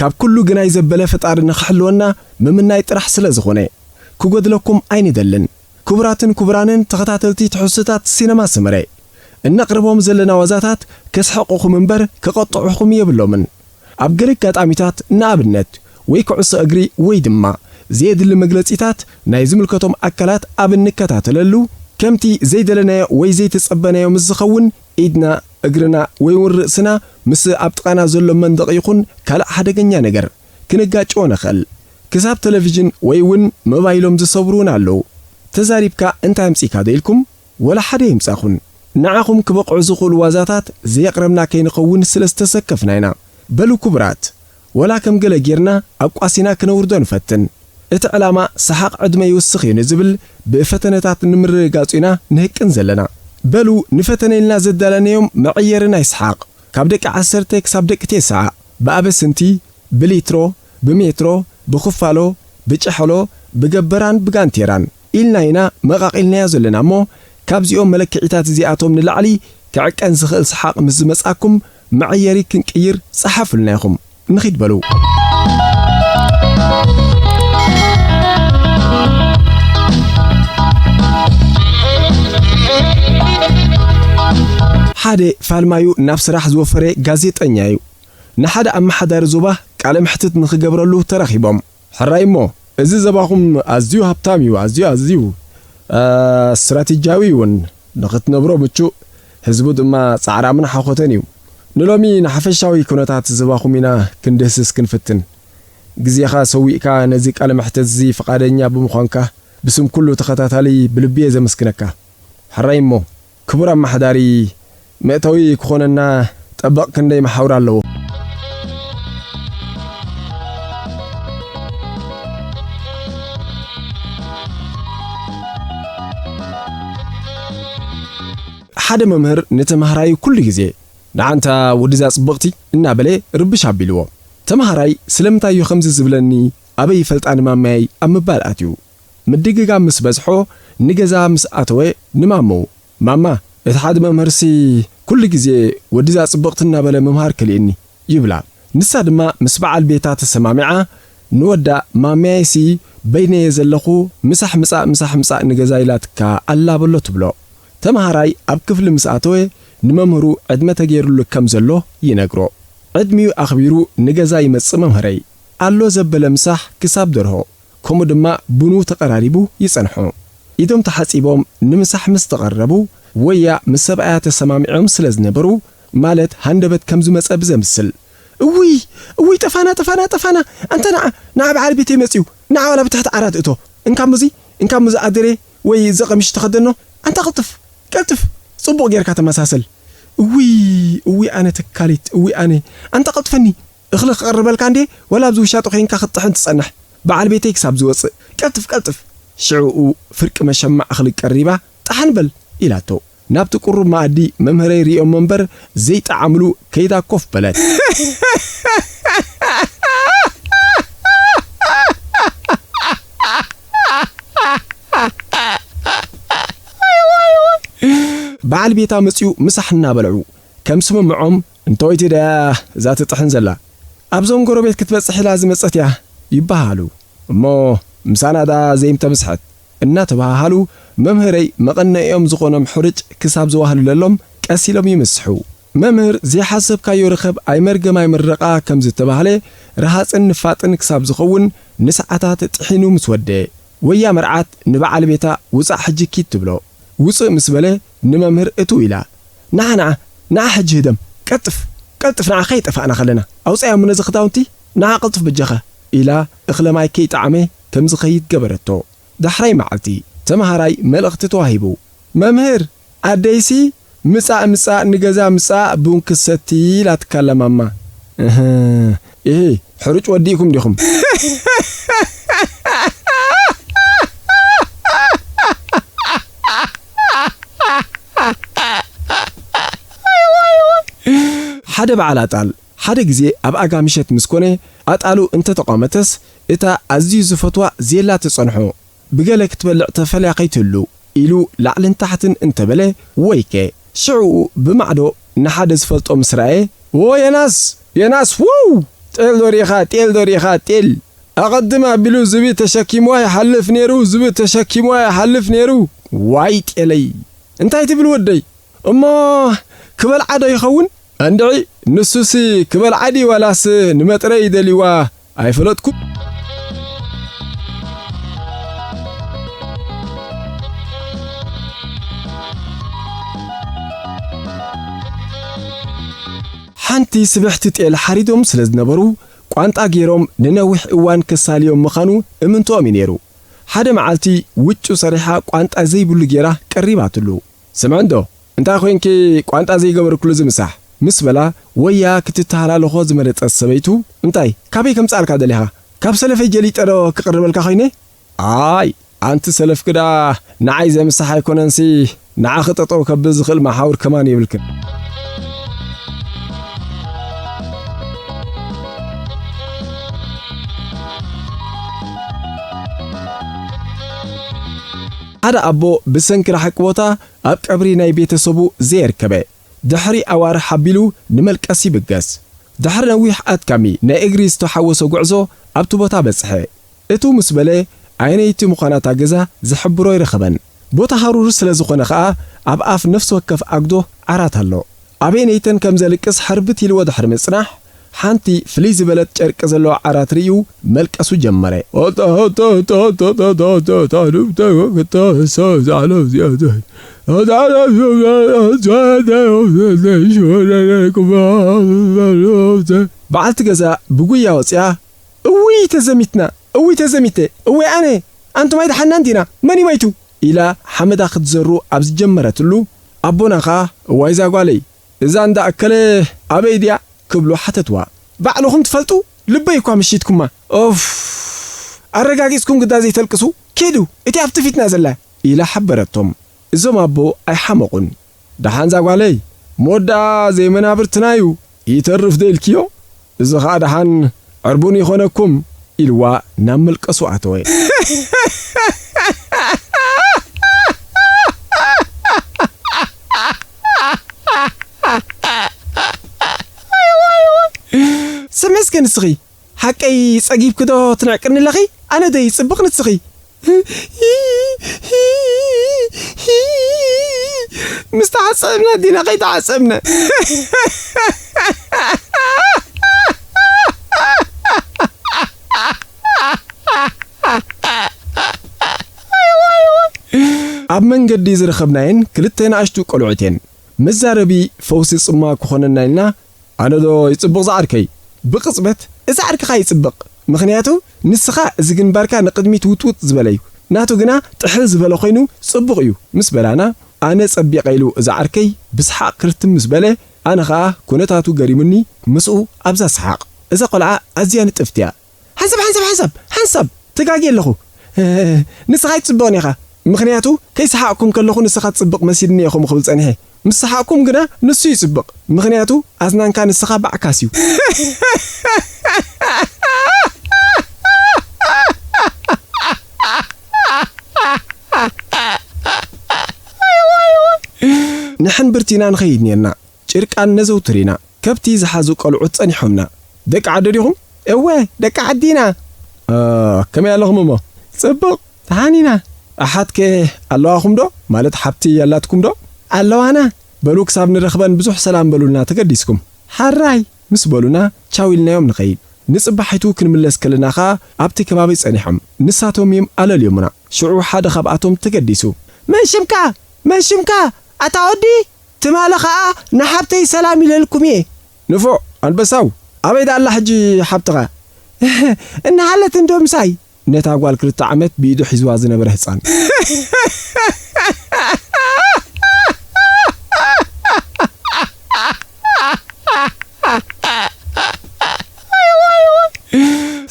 ካብ ኩሉ ግናይ ዘበለ ፈጣሪ ንኽሕልወና ምምናይ ጥራሕ ስለ ዝኾነ ክጎድለኩም ኣይንደልን ክቡራትን ክቡራንን ተኸታተልቲ ትሕዝቶታት ሲነማ ሰመረ እነቕርቦም ዘለና ዋዛታት ከስሕቑኹም እምበር ክቐጥዑኹም የብሎምን ኣብ ገለ ኣጋጣሚታት ንኣብነት ወይ ኩዕሶ እግሪ ወይ ድማ ዘየድሊ መግለጺታት ናይ ዝምልከቶም ኣካላት ኣብ እንከታተለሉ ከምቲ ዘይደለናዮ ወይ ዘይተጸበናዮ ምስ ዝኸውን ኢድና፣ እግርና ወይ እውን ርእስና ምስ ኣብ ጥቓና ዘሎ መንደቕ ይኹን ካልእ ሓደገኛ ነገር ክንጋጨዎ ንኽእል። ክሳብ ተለቪዥን ወይ እውን ሞባይሎም ዝሰብሩ እውን ኣለዉ። ተዛሪብካ እንታይ ኣምጺእካዶ ኢልኩም ወላሓደ ኣይምጻኹን። ንዓኹም ክበቕዑ ዝኽእሉ ዋዛታት ዘየቕረብና ከይንኸውን ስለዝተሰከፍና ኢና። በሉ ክቡራት! ወላ ከም ገለ ጌርና ኣቋሲና ክነውርዶ ንፈትን። እቲ ዕላማ ሰሓቕ ዕድመ ይውስኽ እዩ ንዝብል ብፈተነታት ንምርግጋጹ ኢና ንህቅን ዘለና። በሉ ንፈተነ ኢልና ዘዳለናዮም መዐየሪ ናይ ሰሓቕ፣ ካብ ደቂ ዓሰርተ ክሳብ ደቂ ቴስዓ፣ ብኣበስንቲ፣ ብሊትሮ፣ ብሜትሮ፣ ብክፋሎ፣ ብጨሕሎ፣ ብገበራን ብጋንቴራን፣ ኢልና ኢና መቓቒልናዮ ዘለና እሞ ካብዚኦም መለክዒታት እዚኣቶም ንላዕሊ ክዕቀን ዝኽእል ሰሓቕ ምስ ዝመጽኣኩም መዐየሪ ክንቅይር ጸሓፉልና ኢኹም ንኺድ በሉ። ሓደ ፋልማዩ ናብ ስራሕ ዝወፈረ ጋዜጠኛ እዩ። ንሓደ ኣመሓዳሪ ዞባ ቃለ መሕትት ንኽገብረሉ ተራኺቦም። ሕራይ እሞ እዚ ዘባኹም ኣዝዩ ሃብታም እዩ ኣዝዩ ኣዝዩ እስትራቴጂያዊ እውን ንኽትነብሮ ምቹእ ህዝቡ ድማ ጻዕራምን ሓኾተን እዩ ንሎሚ ንሓፈሻዊ ኩነታት ዘባኹም ኢና ክንድህስስ ክንፍትን ግዜኻ ሰዊእካ ነዚ ቃለ መሕተት እዚ ፍቓደኛ ብምዃንካ ብስም ኩሉ ተኸታታሊ ብልቢየ ዘመስግነካ ሕራይ እሞ ክቡር ኣማሓዳሪ መእተዊ ክኾነና ጠበቕ ክንደይ መሓውር ኣለዎ። ሓደ መምህር ንተምሃራዩ ኩሉ ግዜ ንዓንታ ወድዛ ጽብቕቲ እናበለ ርብሽ ኣቢልዎ። ተምሃራይ ስለምንታይ እዩ ከምዚ ዝብለኒ ኣበይ ይፈልጣ ንማመያይ ኣብ ምባል ኣትዩ። ምድግጋም ምስ በዝሖ ንገዛ ምስ ኣተወ ንማመኡ፣ ማማ፣ እቲ ሓደ መምህርሲ ኩሉ ግዜ ወዲ'ዛ ጽብቕቲ እናበለ ምምሃር ከሊኡኒ፣ ይብላ። ንሳ ድማ ምስ በዓል ቤታ ተሰማሚዓ ንወዳ፣ ማሚያይ'ሲ በይነይ'የ ዘለኹ፣ ምሳሕ ምጻእ ምሳሕ ምጻእ ንገዛ ኢላትካ ኣላ በሎ ትብሎ። ተመሃራይ ኣብ ክፍሊ ምስ ኣተወ ንመምህሩ ዕድመ ተገይሩሉ ከም ዘሎ ይነግሮ። ዕድሚኡ ኣኽቢሩ ንገዛ ይመጽእ መምህረይ። ኣሎ ዘበለ ምሳሕ ክሳብ ደርሆ። ከምኡ ድማ ቡኑ ተቐራሪቡ ይጸንሑ። ኢዶም ተሓጺቦም ንምሳሕ ምስ ተቐረቡ ወያ ምስ ሰብኣያ ተሰማሚዖም ስለ ዝነበሩ ማለት ሃንደበት ከም ዝመጸ ብዘምስል። እውይ! እውይ! ጠፋና! ጠፋና! ጠፋና! ኣንታ ንዓ! ንዓ በዓል ቤተይ መጺኡ! ንዓ ዋላ ብታሕቲ ዓራት እቶ! እንካ'ሞ'ዚ! እንካ'ሞ'ዚ ኣደሬ ወይ እዚ ቀሚሽ ተኸደኖ! ኣንታ ቅልጥፍ! ቀልጥፍ! ጽቡቕ ጌርካ ተመሳሰል! እውይ! እውይ ኣነ ተካሊት! እውይ ኣነ! ኣንታ ቀልጥፈኒ! እኽሊ ክቕርበልካ እንድየ ወላ ኣብዚ ውሻጠ ኮይንካ ክትጥሕን ትጸንሕ በዓል ቤተይ ክሳብ ዝወጽእ ቀልጥፍ ቀልጥፍ ሽዕኡ ፍርቂ መሸማዕ እኽሊ ቀሪባ ጣሕን በል ኢላቶ ናብቲ ቁሩብ መኣዲ መምህረይ ሪኦሞ እምበር ዘይጠዓምሉ ከይዳ ኮፍ በለት። በዓል ቤታ መጺኡ ምሳሕ እናበልዑ ከም ስምምዖም፣ እንቶይቲ ደያ እዛ ትጥሕን ዘላ ኣብዞም ጎረቤት ክትበጽሕ ኢላ ዝመጸት እያ ይበሃሃሉ እሞ ምሳና ደኣ ዘይምተምስሐት እናተበሃሃሉ መምህረይ መቐነይኦም ዝኾኖም ሕሩጭ ክሳብ ዝዋህልለሎም ቀስ ኢሎም ይምስሑ። መምህር ዘይሓሰብካዮ ርኸብ ኣይመርገም ኣይምረቓ ከም ዝተባህለ ረሃጽን ንፋጥን ክሳብ ዝኸውን ንሰዓታት ጥሒኑ ምስ ወደየ ወያ መርዓት ንበዓል ቤታ ውጻእ ሕጂ ኪድ ትብሎ። ውጽእ ምስ በለ ንመምህር እትው ኢላ ንዓ ንዓ ንዓ ሕጂ ህደም ቀልጥፍ ቀልጥፍ ንዓ ከይጠፋእና ከለና ኣውጻያሞ ነዚ ክዳውንቲ ንዓ ቅልጡፍ በጃኻ ኢላ እኽለ ማይ ከይጠዓመ ከም ዝኸይድ ገበረቶ ዳሕራይ መዓልቲ ተመሃራይ መልእኽቲ ተዋሂቡ መምህር ኣደይሲ ምጻእ ምጻእ ንገዛ ምጻእ ቡን ክትሰቲ ኢላትካላ ማማ እህ ኢሂ ሕሩጭ ወዲእኩም ዲኹም። ሓደ በዓል ኣጣል ሓደ ግዜ ኣብ ኣጋ ምሸት ምስ ኮነ ኣጣሉ እንተ ተቋመተስ እታ ኣዝዩ ዝፈትዋ ዜላ ትጸንሖ። ብገለ ክትበልዕ ተፈልያ ከይትህሉ ኢሉ ላዕልን ታሕትን እንተበለ ወይከ ሽዕኡ ብማዕዶ ንሓደ ዝፈልጦ ምስ ረኣየ ዎ ዮናስ! ዮናስ! ዎው! ጤል ዶ ርኢኻ ጤል ዶ ርኢኻ ጤል! ኣቐድም ኣቢሉ ዝብኢ ተሸኪምዋ ይሓልፍ ነይሩ ዝብኢ ተሸኪምዋ ይሓልፍ ነይሩ። ዋይ ጤለይ! እንታይ ትብል ወደይ! እሞ ክበልዓ ዶ ይኸውን? እንድዒ! ንሱሲ ክበልዓ ድዩ ዋላስ ንመጥረዪ ደልዩዋ ኣይፈለጥኩን። ሓንቲ ስብሕቲ ጤል ሓሪዶም ስለ ዝነበሩ፣ ቋንጣ ገይሮም ንነዊሕ እዋን ከሳልዮም ምኻኑ እምንቶኦም እዩ ነይሩ። ሓደ መዓልቲ ውጩ ሰሪሓ ቋንጣ ዘይብሉ ገይራ ቀሪባትሉ። ስምዕንዶ! እንታይ ኮይንኪ ቋንጣ ዘይገበርክሉ ዝምሳሕ? ምስ በላ ወያ ክትተሃላለኾ ዝመረጸት ሰበይቱ፣ እንታይ ካበይ ከምጽኣልካ ደሊኻ? ካብ ሰለፈይ ጀሊጠዶ ክቕርበልካ ኮይነ? ኣይ ኣንቲ ሰለፍኪ ደኣ ንዓይ ዘምሳሕ ኣይኮነንሲ ንዓኺ ጠጠው ከብል ዝኽእል መሓውር ከማን የብልክን። ሓደ ኣቦ ብሰንኪ ራሕቂ ቦታ ኣብ ቀብሪ ናይ ቤተሰቡ ዘየርከበ ድሕሪ ኣዋርሕ ኣቢሉ ንመልቀስ ይብገስ። ድሕሪ ነዊሕ ኣድካሚ ናይ እግሪ ዝተሓወሶ ጉዕዞ ኣብቲ ቦታ በጽሐ። እትው ምስ በለ ኣየነይቲ ምዃና እታ ገዛ ዝሕብሮ ኣይረኸበን። ቦታ ሃሩር ስለዝኾነ ከኣ ኣብ ኣፍ ነፍሲ ወከፍ ኣጉዶ ዓራት ኣሎ። ኣቤኔይተን ከም ዘልቅስ ሕርብት ኢልዎ ድሕሪ ምጽናሕ፣ ሓንቲ ፍልይ ዝበለት ጨርቂ ዘለዋ ዓራት ርእዩ መልቀሱ ጀመረ። በዓልቲ ገዛ ብጉያ ወጺኣ፣ እውይ ተዘሚትና! እውይ ተዘሚተ! እውይ ኣነ! ኣንቱም ኣይደሓንናን ዲና? መን'ዩ መይቱ? ኢላ ሓመዳ ክትዘሩ ኣብ ዝጀመረትሉ፣ ኣቦና ከኣ እዋይ ዛጓለይ እዛ እንዳ እከለ ኣበይ ድያ? ክብሉ ሓተትዋ። ባዕልኹም ትፈልጡ ልበይ እኳ መሺትኩማ ኡፍ ኣረጋጊጽኩም ግዳ ዘይተልቅሱ ኪዱ እቲ ኣብቲ ፊትና ዘላ ኢላ ሓበረቶም። እዞም ኣቦ ኣይሓመቑን። ደሓን ዛጓለይ መወዳኣ ዘይመናብርትናዩ ይተርፍ ዶ ኢልክዮ እዚ ከኣ ደሓን ዕርቡን ይኾነኩም ኢልዋ ናብ መልቀሱ ኣተወ። ሰመስገን ንስኺ ሓቀይ ጸጊብኪ ዶ ትንዕቅኒ ኣለኺ ኣነ ዶ ይጽብቅ ንስኺ ምስ ተዓጸብና ዲና ከይተዓጸብና ኣብ መንገዲ ዝረኸብናየን ክልተ ንኣሽቱ ቆልዑት እየን። መዛረቢ ፈውሲ ጽምዋ ክኾነና ኢልና ኣነ ዶ ይጽብቕ ዝዓርከይ? ብቕጽበት እዚ ዓርክኻ ይጽብቕ፣ ምኽንያቱ ንስኻ እዚ ግንባርካ ንቕድሚት ውጥውጥ ዝበለ'ዩ፣ ናቱ ግና ጥሕል ዝበለ ኮይኑ ጽቡቕ'ዩ ምስ በላና፣ ኣነ ጸቢቐ ኢሉ እዚ ዓርከይ ብሰሓቕ ክርትም ምስ በለ፣ ኣነ ከኣ ኩነታቱ ገሪሙኒ ምስኡ ኣብዛ ሰሓቕ። እዛ ቆልዓ ኣዝያ ንጥፍቲ'ያ። ሓንሳብ ሓንሳብ ሓንሳብ ሓንሳብ ተጋግየ ኣለኹ ንስኻ ኣይትጽብቕን ኢኻ ምኽንያቱ ከይሰሓቕኩም ከለኹ ንስኻ ትጽብቕ መሲልኒ እየ ከምኡ ክብል ጸኒሐ ምስ ሰሓቕኩም ግና ንሱ ይጽብቕ ምኽንያቱ ኣዝናንካ ንስኻ ባዕካስ እዩ ንሕን ብርቲና ንኸይድ ኔርና። ጭርቃን ነዘውትር ኢና ከብቲ ዝሓዙ ቆልዑት ጸኒሖምና ደቂ ዓዶ ዲኹም? እወ ደቂ ዓዲ ኢና። ኣህ ከመይ ኣለኹም እሞ? ጽቡቕ ደሓን ኢና። ኣሓት ከ ኣለዋኹም ዶ? ማለት ሓብቲ ኣላትኩም ዶ? ኣለዋና። በሉ ክሳብ ንረኽበን ብዙሕ ሰላም በሉልና ተገዲስኩም። ሐራይ። ምስ በሉና ቻው ኢልናዮም ንኸይድ። ንጽባሒቱ ክንምለስ ከለና ከኣ ኣብቲ ከባቢ ጸኒሖም ንሳቶም እዩም ኣለልዮሙና። ሽዑ ሓደ ካብኣቶም ተገዲሱ። መን ሽምካ? መን ሽምካ? ኣታ ወዲ! ትማሊ ከኣ ንሓብተይ ሰላም ኢለልኩም እየ። ንፉዕ ኣንበሳው ኣበይ ደኣ ኣላ ሕጂ ሓብትኻ? እህ እንሃለት እንዶ ምሳይ። ነታ ጓል ክልተ ዓመት ብኢዱ ሒዝዋ ዝነበረ ህጻን።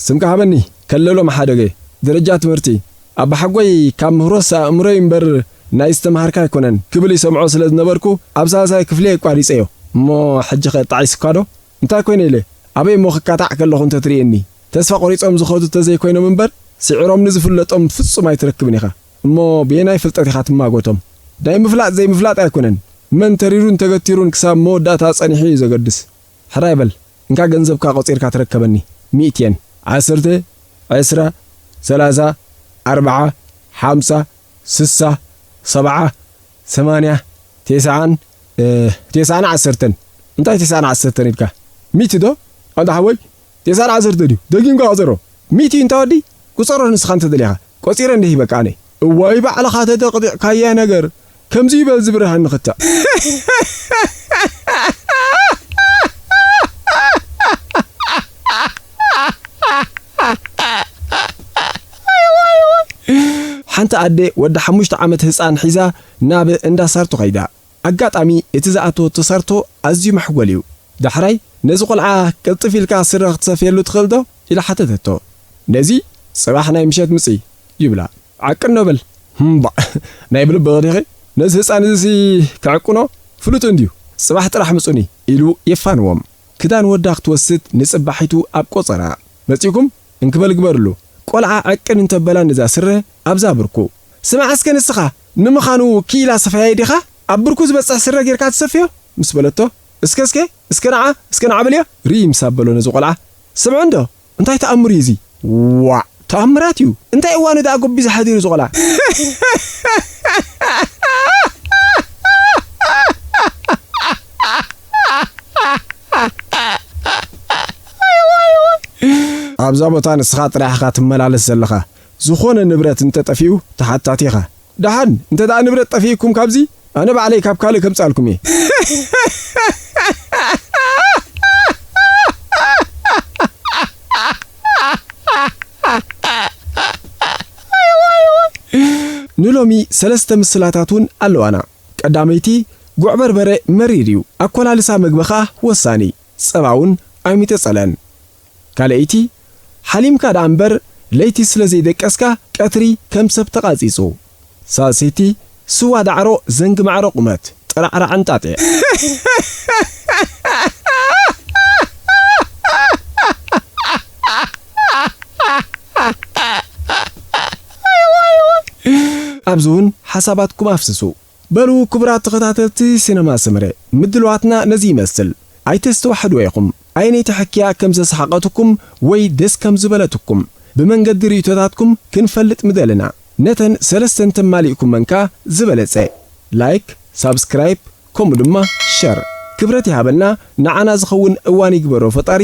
ስምካ ሃበኒ ከለሎ መሓደገ ደረጃ ትምህርቲ። ኣባሓጎይ ካብ ምህሮስ ኣእምሮይ እምበር ናይ ዝተምሃርካ ኣይኮነን ክብል ይሰምዖ ስለ ዝነበርኩ ኣብ ሳልሳይ ክፍሊ የቋሪጸዮ። እሞ ሕጂኸ ጣዒሱካዶ? እንታይ ኮይነ ኢለ ኣበይ እሞ ክቃጣዕ ከለኹ እንተ ትርእየኒ። ተስፋ ቆሪጾም ዝኸዱ እንተ ዘይኮይኖም እምበር ስዒሮም ንዝፍለጦም ፍጹም ኣይትረክብን ኢኻ። እሞ ብየናይ ፍልጠት ኢኻ ትማጎቶም? ናይ ምፍላጥ ዘይምፍላጥ ኣይኮነን መን ተሪሩን ተገቲሩን ክሳብ መወዳእታ ጸኒሑ እዩ ዘገድስ። ሕራይ በል እንካ ገንዘብካ ቆጺርካ ተረከበኒ ሚእቲ የን ዓሰርተ ዕስራ ሰላሳ ኣርብዓ ሓምሳ ስሳ ሰብዓ ሰማንያ ቴስዓን ቴስዓን ዓሰርተን እንታይ ቴስዓን ዓሰርተን ኢልካ ሚእቲ ዶ ኣንታ ሓወይ የሳር ዓሰርተ ድዩ ደጊምካ ቁጸሮ ሚእቲ እዩ እንታ ወዲ ቁጸሮ ንስኻ እንተ ደሊኻ ቆጺረ እንደ ሂበካ ኣነ። እዋይ ባዕልኻ ተጠቅጢዕካያ ነገር ከምዚ እዩ በል ዝብርሃኒ ክታእ። ሓንቲ ኣደ ወዳ ሓሙሽተ ዓመት ህጻን ሒዛ ናብ እንዳ ሳርቶ ከይዳ። ኣጋጣሚ እቲ ዝኣተወቶ ሳርቶ ኣዝዩ መሕጎል እዩ። ዳሕራይ ነዚ ቆልዓ ቅልጥፍ ኢልካ ስረ ክትሰፍየሉ ትኽእል ዶ? ኢላ ሓተተቶ። ነዚ? ጽባሕ ናይ ምሸት ምጺ! ይብላ። ዓቅኖ በል! እምባእ! ናይ ብልብኺ ዲኺ? ነዚ ህጻን እዚሲ ክዕቅኖ ፍሉጥ እንድዩ! ጽባሕ ጥራሕ ምጹኒ! ኢሉ የፋንዎም። ክዳን ወዳ ክትወስድ ንጽባሒቱ ኣብ ቆጸራ። መጺእኩም? እንክበል ግበርሉ። ቆልዓ ዕቅን እንተበላ ነዛ ስረ ኣብዛ ኣብርኩ። ስማዕ እስከ ንስኻ፣ ንምኻኑ ክኢላ ሰፋያይ ዲኻ? ኣብ ብርኩ ዝበጽሕ ስረ ጌርካ ትሰፍዮ? ምስ በለቶ፣ እስከ እስከ እስከ ንዓ እስከ ንዓ በልዮ ርእይ ምስ ኣበሎ ነዚ ቆልዓ፣ ስምዑ እንዶ እንታይ ተኣምር እዩ እዚ? ዋእ! ተኣምራት እዩ! እንታይ እዋኑ ደኣ ጎቢዙ ሓዲሩ እዚ ቆልዓ? ኣብዛ ቦታ ንስኻ ጥራሕ ኢኻ ትመላለስ ዘለኻ። ዝኾነ ንብረት እንተጠፊኡ ተሓታቲ ኢኻ። ደሓን እንተድኣ ንብረት ጠፊኡኩም ካብዚ ኣነ ባዕለይ ካብ ካልእ ከምጽኣልኩም እየ። ንሎሚ ሰለስተ ምስላታት እውን ኣለዋና። ቀዳመይቲ፣ ጉዕ በርበረ መሪር እዩ፣ ኣኮላልሳ መግቢ ከኣ ወሳኒ። ጸባውን ኣይምተጸለን ካልኣይቲ ሓሊምካ ደኣ እምበር ለይቲ ስለ ዘይደቀስካ ቀትሪ ከም ሰብ ተቓጺጹ ሳልሰይቲ ስዋ ዳዕሮ ዘንጊ ማዕረ ቁመት ጥራዕራዕ እንጣጢዕ። ኣብዚውን ሓሳባትኩም ኣፍስሱ። በሉ ክቡራት ተኸታተልቲ ሲነማ ሰመረ ምድልዋትና ነዚ ይመስል ኣይተስተዋሕድዎ ኢኹም ኣየነይቲ ሕክያ ከም ዘስሓቐትኩም ወይ ደስ ከም ዝበለትኩም ብመንገዲ ርእይቶታትኩም ክንፈልጥ ምደለና ነተን ሰለስተ እንተማሊእኩመንካ ዝበለጸ ላይክ ሳብስክራይብ ከምኡ ድማ ሸር ክብረት ይሃበልና ንዓና ዝኸውን እዋን ይግበሮ ፈጣሪ